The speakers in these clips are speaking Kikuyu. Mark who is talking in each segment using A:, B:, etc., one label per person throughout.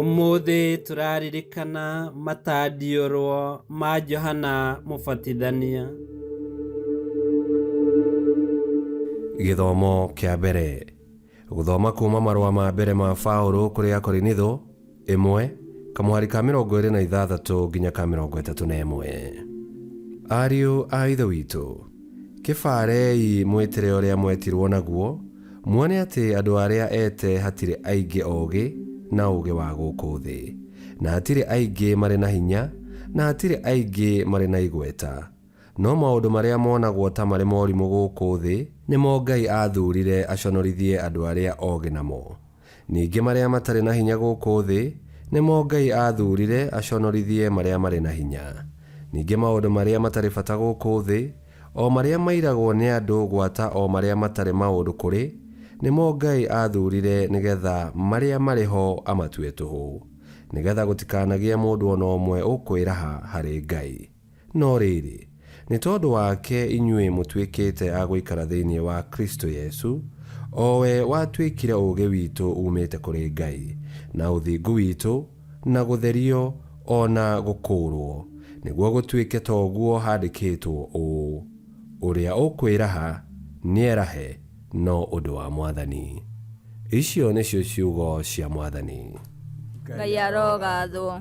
A: ũmũthĩ tũraririkana matandiũrwo ma johana mũbatithania
B: gĩthomo kĩa mbere Gũthoma kuuma marũa ma mbere ma Paũlũ kũrĩ Akorinitho, ĩmwe, kamũhari ka mĩrongo ĩrĩ na ithathatũ nginya ka mĩrongo ĩtatũ na ĩmwe. Ariũ a Ithe witũ, kĩbaarei mwĩtĩre ũrĩa mwetirwo naguo, muone atĩ andũ arĩa eete hatirĩ aingĩ oogĩ na ũũgĩ wa gũkũ thĩ, na hatirĩ aingĩ marĩ na hinya, na hatirĩ aingĩ marĩ na igweta, No maũndũ marĩa monagwo ta marĩ morimũ gũkũ thĩ nĩmo Ngai aathuurire aconorithie andũ arĩa ogĩ namo. Ningĩ marĩa matarĩ na hinya gũkũ thĩ nĩmo Ngai aathuurire aconorithie marĩa marĩ na hinya. Ningĩ maũndũ marĩa matarĩ bata gũkũ thĩ, o marĩa mairagwo nĩ andũ gwata o marĩa matarĩ maũndũ kũrĩ, nĩmo Ngai aathuurire nĩgetha marĩa marĩ ho amatue tũhũ, nĩgetha gũtikanagĩe mũndũ o na ũmwe ũkwĩraha harĩ Ngai. No rĩĩrĩ, nĩ tondũ wake inyuĩ mũtuĩkĩĩte a gũikara thĩinĩ wa Kristo Yesu, o we watuĩkire ũũgĩ witũ uumĩĩte kũrĩ Ngai, na ũthingu witũ, na gũtherio, o na gũkũũrwo, nĩguo gũtuĩke ta ũguo handĩkĩĩtwo ũũ, Ũrĩa ũkwĩraha, nĩerahe, no ũndũ wa Mwathani. Icio nĩcio ciugo cia Mwathani. Ngai
C: arogaathwo.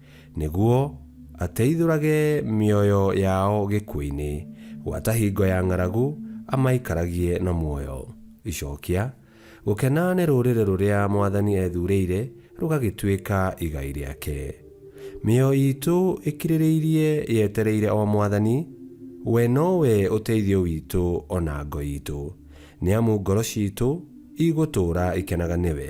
B: nĩguo ateithũrage mĩoyo yao gĩkuũ-inĩ, gwata hingo ya ng'aragu amaikaragie na muoyo. Icokia, Gũkena nĩ rũrĩrĩ rũrĩa Mwathani ethuurĩire rũgagĩtuĩka igai rĩake. Mĩoyo iitũ ĩkirĩrĩirie yetereire o Mwathani, we no we ũteithio witũ o na ngo iitũ, nĩ amu ngoro ciitũ igũtũũra ikenaga nĩwe.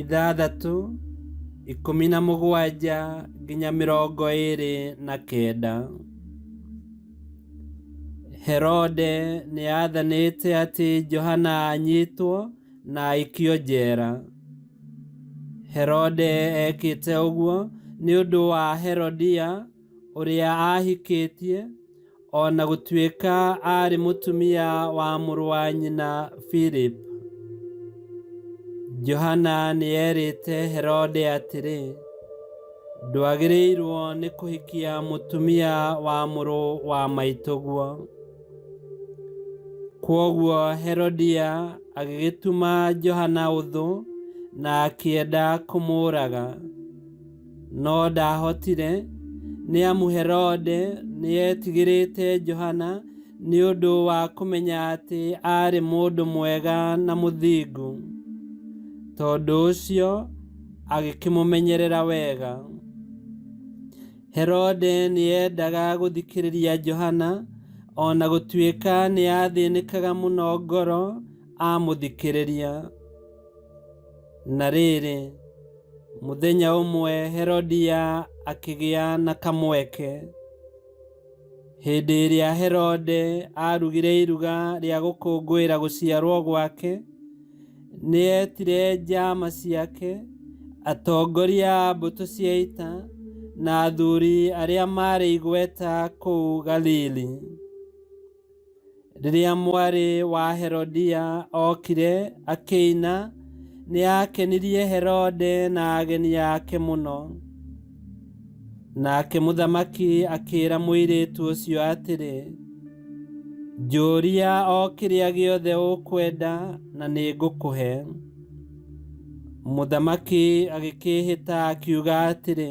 A: ithathatũ ikũmi na mũgwanja nginya mĩrongo ĩrĩ na kenda herode nĩ athanĩte atĩ johana anyitwo na aikio njera herode ekĩte ũguo nĩ ũndũ wa herodia ũrĩa ahikĩtie O na gũtuĩka aarĩ mũtumia wa mũrũ wa nyina Philip, Johana nĩ eerĩte Herode atĩrĩ, ndwagĩrĩirwo nĩ kũhikia mũtumia wa mũrũ wa maitũguo. Kwoguo Herodia agĩgĩtuma Johana ũthũ na akĩenda kũmũũraga. No ndaahotire, nĩ amu Herode nĩ eetigĩrĩte Johana nĩ ũndũ wa kũmenya atĩ aarĩ mũndũ mwega na mũthingu. Tondũ ũcio agĩkĩmũmenyerera wega. Herode nĩ eendaga gũthikĩrĩria Johana o na gũtuĩka nĩ aathĩnĩkaga mũno ngoro amũthikĩrĩria. Na rĩrĩ, mũthenya ũmwe Herodia akĩgĩa na kamweke. Hĩndĩ ĩrĩa Herode aarugire iruga rĩa gũkũngũĩra gũciarwo gwake, nĩetire njama ciake, atongoria a mbũtũ cia ita, na athuri arĩa maarĩ igweta kũu Galili. Rĩrĩa mwarĩ wa Herodia okire akĩina, nĩ aakenirie Herode na ageni ake mũno. Nake mũthamaki akĩĩra mũirĩtu ũcio atĩrĩ, Njũria o kĩrĩa gĩothe ũkwenda na nĩ ngũkũhe. Mũthamaki agĩkĩĩhĩta akiuga atĩrĩ,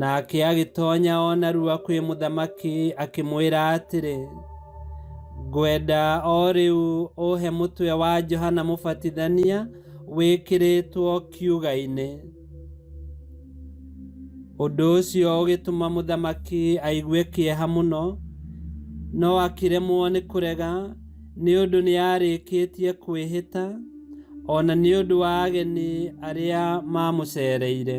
A: Nake agĩtonya o narua kwĩ mũthamaki akĩmwĩra atĩrĩ, ngwenda o rĩu ũhe mũtwe wa Johana Mũbatithania wĩkĩrĩtwo kiuga-inĩ. Ũndũ ũcio ũgĩtũma mũthamaki aigue kĩeha mũno, no akĩremwo nĩ kũrega nĩ ũndũ nĩ arĩkĩtie kwĩhĩta, o na nĩ ũndũ wa ageni arĩa maamũcereire.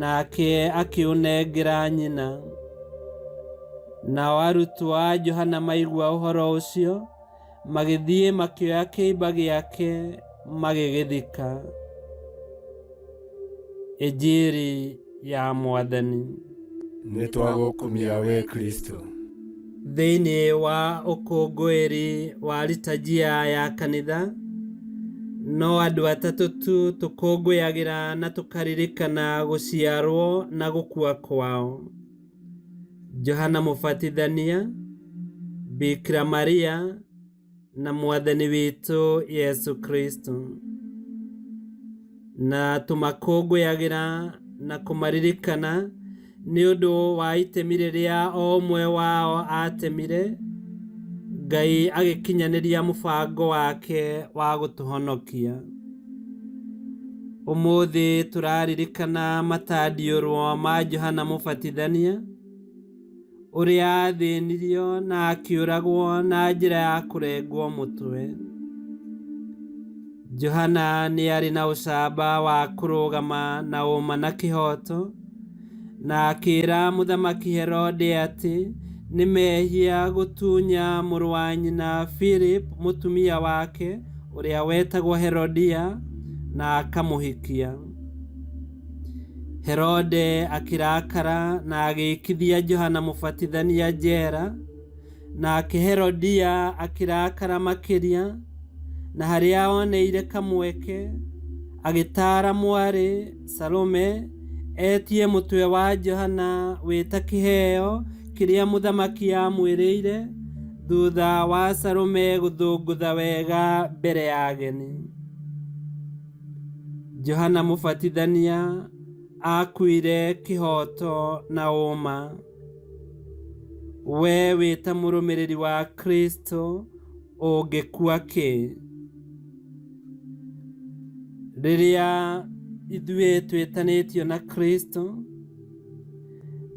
A: nake akĩũnengera nyina nao arutwo a johana maigua ũhoro ũcio magĩthiĩ makĩoya kĩimba gĩake magĩgĩthika ĩnjiri ya mwathani nĩ
D: twagũkumia we kristo Thĩinĩ
A: wa ũkũngũĩri wa litajia ya kanitha, no andũ atatũ tu tũkũngũyagĩra na tũkaririkana gũciarwo na gũkua kwao. Johana Mũbatithania, Bikira Maria na mwathani witũ yesu kristo na tũmakũngũyagĩra na kũmaririkana nĩ ũndũ wa itemi rĩrĩa o ũmwe wao atemire ngai agĩkinyanĩria mũbango wake wa gũtũhonokia ũmũthĩ tũraririkana matandiũrwo ma johana mũbatithania ũrĩa athĩnirio na akĩũragwo na njĩra ya kũrengwo mũtwe. Johana nĩ arĩ na ũcamba wa kũrũgama na ũma na kĩhooto, na akĩĩra Mũthamaki Herode atĩ nĩ mehia gũtunya mũrũ wa nyina Philip mũtumia wake ũrĩa wetagwo Herodia na akamũhikia. herode akĩrakara na agĩĩkithia johana mũbatithania njera nake herodia akĩrakara makĩria na harĩa oneire kamweke agĩtaara mwarĩ salome etie mũtwe wa johana wĩta kĩheo kĩrĩa mũthamaki amwĩrĩire thutha wa salome gũthũngũtha wega mbere ya ageni Johana Mũbatithania aakuire kĩhooto na ũũma. Wee wĩ ta mũrũmĩrĩri wa Kristo ũngĩkua kĩ? Rĩrĩa ithuĩ twĩtanĩtio na Kristo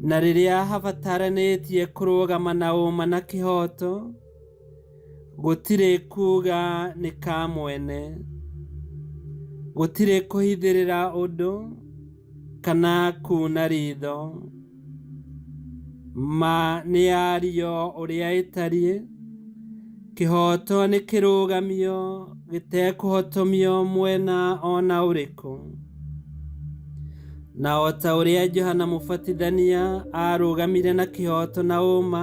A: na rĩrĩa habataranĩtie kũrũgama na ũũma na kĩhooto, Gũtirĩ kuuga nĩ ka mwene. Gũtirĩ kũhithĩrĩra ũndũ kana kuuna ritho. Ma nĩ yario ũrĩa ĩtariĩ. Kĩhooto nĩ kĩrũgamio gĩtekũhotomio mwena ona ũrĩkũ. Na o ta ũrĩa Johana Mũbatithania aarũgamire na kĩhooto na ũũma,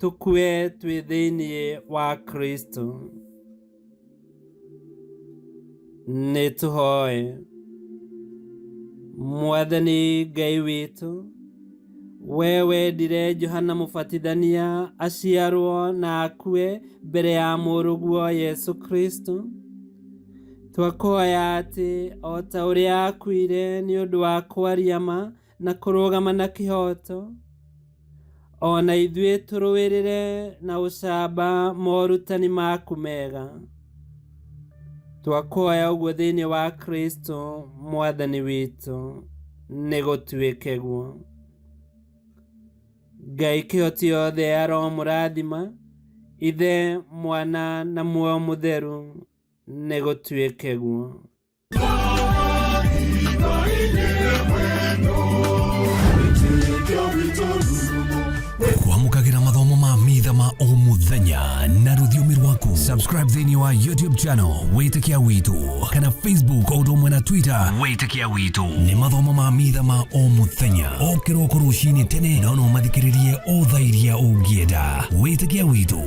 A: tũkue twĩ thĩinĩ wa kristo nĩ tũhoe mwathani ngai witũ we wendire johana mũbatithania aciarwo na akue mbere ya mũrũguo yesu kristo twakuhoya atĩ o ta ũrĩa akuire nĩ ũndũ wa kwaria ma na kũrũgama na kĩhooto o na ithuĩ tũrũĩrĩre na ũcamba morutani maku mega twakuhoya ũguo thĩinĩ wa kristo mwathani witũ nĩ gũtuĩke guo ngai kĩhoti yothe ya roho mũrathima ithe mwana na muoyo mũtheru nĩ gũtuĩke guo
E: kwamũkagĩra mathomo ma mitha ma o mũthenya na rũthiomi rwaku subscribe thĩinĩ wa youtube channel wĩtĩkia witũ kana facebook o ũndũ ũmwe na twitter wĩtĩkia witũ nĩ mathomo ma mitha ma o mũthenya o kĩroko rũcinĩ tene na no ũmathikĩrĩrie o thaa iria ũngĩenda wĩtĩkia witũ